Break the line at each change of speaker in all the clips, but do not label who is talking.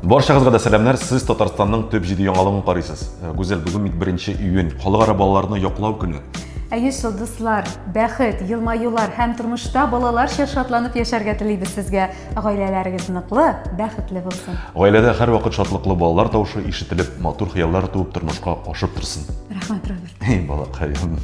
Баршагызга да сәламнәр. Сез Татарстанның төп җиде яңалыгын карыйсыз. Э, Гүзәл, бүген бит 1 июнь, халыкара балаларны яклау көне. Әйе, шул дуслар, бәхет, елмаюлар һәм тормышта балаларча шатланып яшәргә телибез сезгә. Гаиләләрегез ныклы, бәхетле булсын. Гаиләдә һәрвакыт шатлыклы балалар тавышы ишетелеп, матур хыяллар туып тормышка ашып торсын. Рәхмәт, Роберт. Эй, балакаем.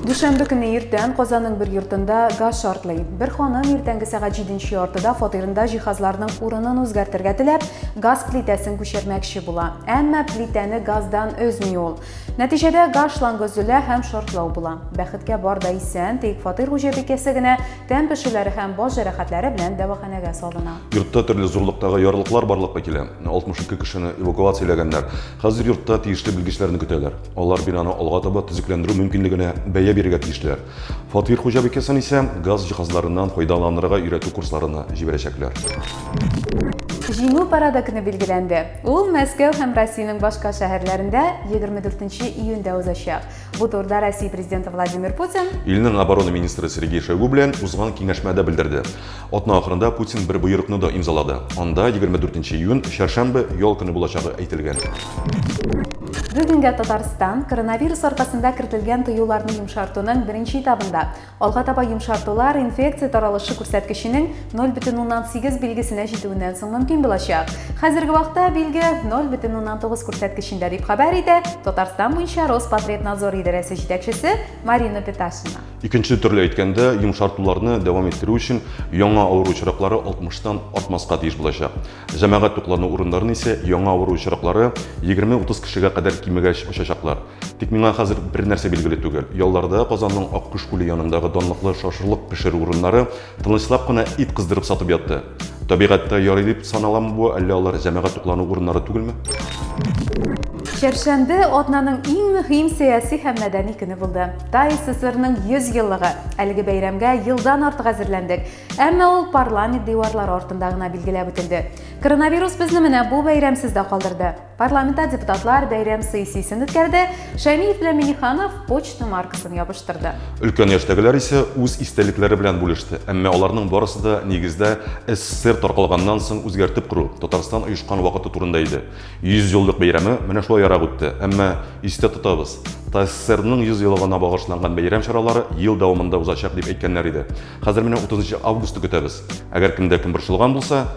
Дүшәмбе көне иртән Казанның бер йортында газ шартлый. Бер ханым иртәнге сәгать 7 яртыда фатирында җиһазларның урынын үзгәртергә теләп, газ плитәсен күчермәкче була. Әмма плитәне газдан өзми ул. Нәтиҗәдә газ шлангы өзелә һәм шартлау була. Бәхеткә бар да исән, тик фатир хуҗабикәсе генә Тән пешүләре һәм баш җәрәхәтләре белән дәваханәгә салына. Йортта төрле зурлыктагы ярлыклар барлыкка килә. 62 кешене эвакуацияләгәннәр. Хәзер йортта тиешле белгечләрне көтәләр. Алар бинаны алга таба төзекләндерү мөмкинлегенә бәя бирергә тиешләр. Фатир хуҗабикәсен исә газ җиһазларыннан файдаланырга өйрәтү курсларына җибәрәчәкләр. Җиңү парады көне билгеләнде. Ул Мәскәү һәм Россиянең башка шәһәрләрендә 24 июньдә узачак. Бу турыда Россия президенты Владимир Путин Илнең оборона министры Сергей Шойгу белән узган киңәшмәдә белдерде. Атна ахырында Путин бер боерыкны да имзалады. Анда 24 июнь, чәршәмбе, ял көне булачагы әйтелгән. Бүгенгә Татарстан коронавирус аркасында кертелгән тыюларны йомшартуның беренче этабында. Алга таба йомшартулар инфекция таралышы күрсәткеченең 0,8 билгесенә җитүеннән соң мөмкин булачак. Хәзерге вакытта билге 0,9 күрсәткечендә дип хәбәр итә Татарстан буенча Роспотребнадзор идарәсе җитәкчесе Марина Петахина. Икенче төрле әйткәндә, йомшартуларны дәвам иттерү өчен яңа авыру очраклары 60 тан артмаска тиеш булачак. Җәмәгать туклану урыннарын исә яңа авыру очраклары 20-30 кешегә кадәр кимегәч ачачаклар. Тик миңа хәзер бер нәрсә билгеле түгел. Ялларда Казанның Аккош күле янындагы данлыклы шашлык пешерү урыннары тынычлап кына ит кыздырып сатып ятты. Табигатьтә ярый дип саналамы бу, әллә алар җәмәгать туклану урыннары түгелме? Чәршәмбе атнаның иң мөһим сәяси һәм мәдәни көне булды. Тай ССРның 100 еллыгы. Әлеге бәйрәмгә елдан артык әзерләндек. Әмма ул парламент диварлары артында гына билгеләп үтелде. Коронавирус безне менә бу бәйрәмсез дә калдырды. Парламентта депутатлар бәйрәм сессиясен үткәрде, Шәмиев белән Миниханов почта маркасын ябыштырды. Өлкән яшьтәгеләр исә үз истәлекләре белән бүлеште. Әмма аларның барысы да нигездә СССР таркалганнан соң үзгәртеп кору, Татарстан оешкан вакыты турында иде. 100 еллык бәйрәме менә шулаярак үтте. Әмма, истә тотабыз, ТАССРның 100 еллыгына багышланган бәйрәм чаралары ел дәвамында узачак дип әйткәннәр иде. Хәзер менә 30 августны көтәбез. Әгәр кемдә кем борчылган булса,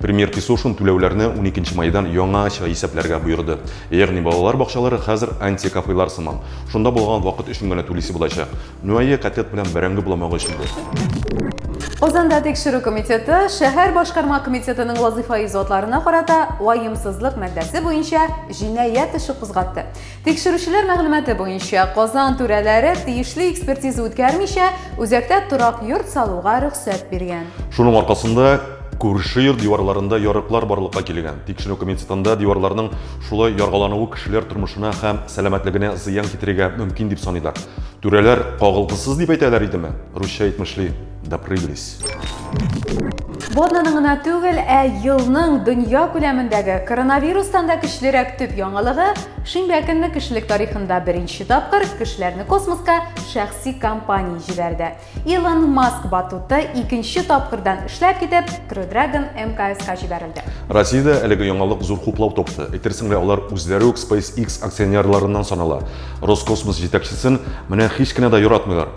Премьер Кисушин түләүләрне уникенче майдан яңача исәпләргә боерды. Ягъни балалар бакчалары хәзер антикафелар сыман. Шунда булган вакыт өчен генә түлисе булачак. Ну әйе, котлет белән бәрәңге буламагы өчен бу. Казанда тикшерү комитеты шәһәр башкарма комитетының вазыйфаи затларына карата ваемсызлык маддәсе буенча җинаять эше кузгатты. Тикшерүчеләр мәгълүматы буенча, Казан түрәләре тиешле экспертиза үткәрмичә, үзәктә торак йорт салуга рөхсәт биргән. Шуның аркасында күрше йорт диварларында ярыклар барлыкка килгән. Тикшерү комитетында диварларның шулай яргалануы кешеләр тормышына һәм сәламәтлегенә зыян китерергә мөмкин дип саныйлар. Түрәләр кагылгысыз дип әйтәләр идеме? Русча әйтмешли. Допрыгались. Боднаның гына түгел, ә елның дөнья күләмендәге коронавирустан да көчлерәк төп яңалыгы шимбә көнне кешелек тарихында беренче тапкыр кешеләрне космоска шәхси компания җибәрде. Илон Маск батуты икенче тапкырдан эшләп китеп, Crew Dragon МКСка җибәрелде. Россиядә әлеге яңалык зур хуплау тапты. Әйтерсең лә алар үзләре үк SpaceX акционерларыннан санала. Роскосмос җитәкчесен менә һич кенә дә яратмыйлар.